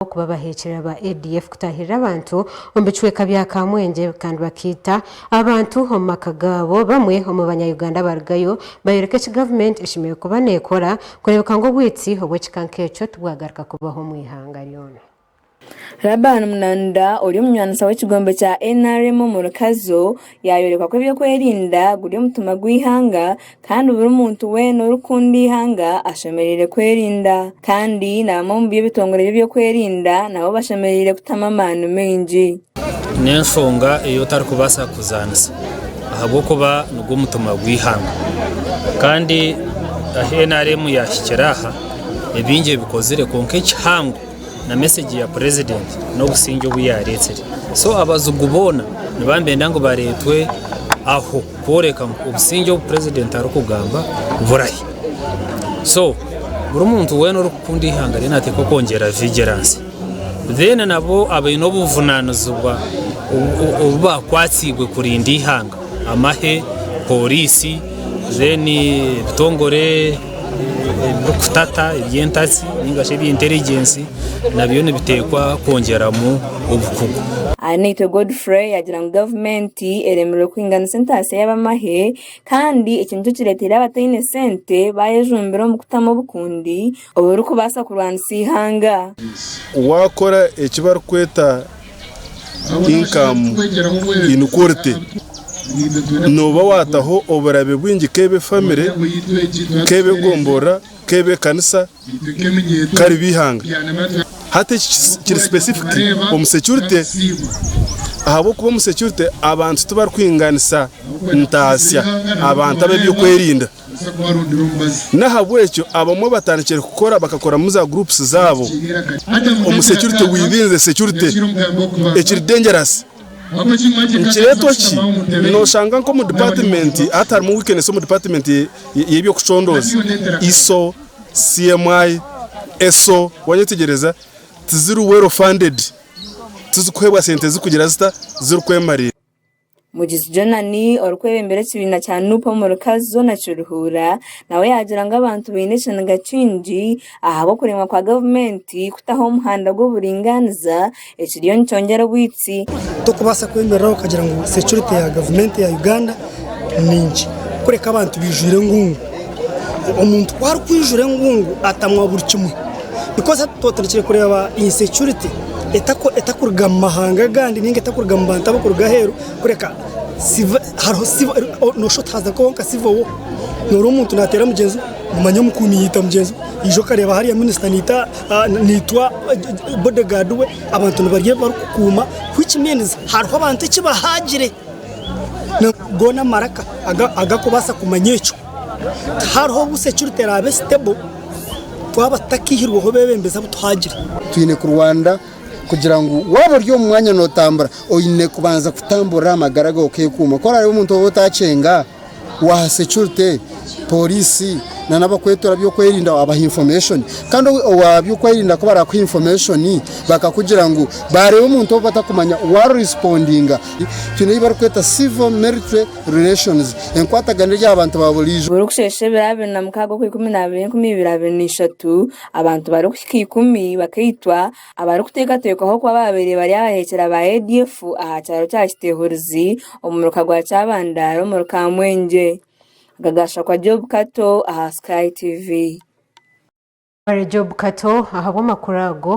ahabw'okuba baheekirira ba ADF kutaahirira abantu omu bicweka bya Kamwengye kandi bakaita abantu omu maka gaabo. Bamwe omu banya-Uganda abarugayo bayoreka eki gavumenti eshemereire kuba neekora kureebeka ngu obwitsi obw'ekika nk'ekyo tibwagaruka kubaho omu ihanga ryona. Laban Munanura ori omunywaniisa w'ekigombe kya nrm omu Rukazo, Yaayoreka ku eby'okwerinda guri omutima gw'eihanga kandi buri muntu weena orikukunda eihanga ashemereire kwerinda. Kandi na bamwe omu by'ebitongore by'eby'okwerinda nabo bashemereire kutamu amaani maingi. N'enshonga ei otarikubaasa kuzaanisa ahabw'okuba nigwo mutima gw'eihanga. Kandi ahu nrm yaahikire aha, ni bingi ebikozire kwonka ekihango na message ya president nobusingye obuyaretsire so abazigu boona niba nibenda ngu baretwe aho kworeka ngu obusingye obu president arikugamba burahi so buri muntu weena orikukunda ihanga rye nateekwa kwongyera vigilance then nabo abaine obuvunanizibwa obu bakwatsiibwe kurinda ihanga amahe, police, then ebitongore. eby'okutata eby'entatsi nainga shi eby'enturigensi nabyo nibiteekwa kwongyeramu obukugu. Ahanaitwe Godfrey yaagira ngu gavumenti eremereire kuhinganisa entaasya y'abamahe kandi eki nikyo kireeteire abataine sente baayejumbira omu kutamu obukundi oburikubaasa kurwanisa eihanga. Waakora eki barikweta income inequality nooba waataho oburabe bwingi k'ebe famire, k'ebe gomborora, k'ebe ekanisa, k'ari be ihanga. Hati eki kiri specific omu security ahabw'okuba omu security abantu tibari kuhinganisa ntaasya abantu ab'eby'okwerinda. N'ahabw'ekyo abamwe batandikire kukora bakakoramu za groups zaabo omu security within the security ekiri dangerous. Nikireetwa ki? Noshanga nk'omu department hati harimu weakness omu department y'eby'okucondooza, iso, CMI, eso, wanyetegyereza, tiziri well funded, tizikuheebwa sente zikugira zita? Zirikwemarira. Mugizi Jonani orikwebembera ekibiina kya Nup omu Rukazi zoona Kiruhura nawe yagira ngu abantu baine ekiniga kingi ahabw'okuremwa kwa gavumenti kutaho omuhanda gw'oburingaaniza ekiriyo nikyongyera obwitsi. Tokubaasa kwemerera okagira ngu securite ya gavumenti ya Uganda ni nkye kureka abantu baijwire engungu. Omuntu ku arikwijura engungu atamwa buri kimwe because hati twatandikire kureeba insecurity etakuruga mu mahanga agandi ninga etakuruga mu bantu abakuruga aheeru kureka noshusha oti haza kubaho nka civil war noreeba omuntu nateera mugyenzi we omanya omukuumi yaita mugyenzi we naija okareeba hariya minister naitwa bodyguard we abantu nibarya ebi barikukuuma which means hariho abantu eki bahaagire. Goona amaraka agakubaasa kumanya ekyo. Tihariho busa ekirikuteera abe stable twaba tutakaihirweho bebembezi abu tuhagire. Twine kurwanira kugira ngu waaba ori omu mwanya notambura oyine kubanza kutamburira aha magara gawe okekuuma. Ku oraabe omuntu ou otakyenga, waha securite, porisi na nabakwetora byokwerinda wabaha information kandi owa byokwerinda kubarakuha information bakakugira ngu bareba omuntu owu batakumanya wa respondinga twine eyi barikweta civil military relations enkwatagana eri aha bantu ba burijo. Buri kushesha ebiro abiri na mukaaga okwa ikumi na abiri enkumi ibiri abiri na ishatu, abantu bari kuhika ikumi bakaitwa, Abarikuteekateekwaho kuba baabaire bari abahekyera ba ADF aha kyaro kya Kitehurizi omu muruka gwa Kyabandara omuri Kamwengye. Aga gaashakwa Job Kato aha Sky TV. Hare Job Kato ahabw'amakuru ago.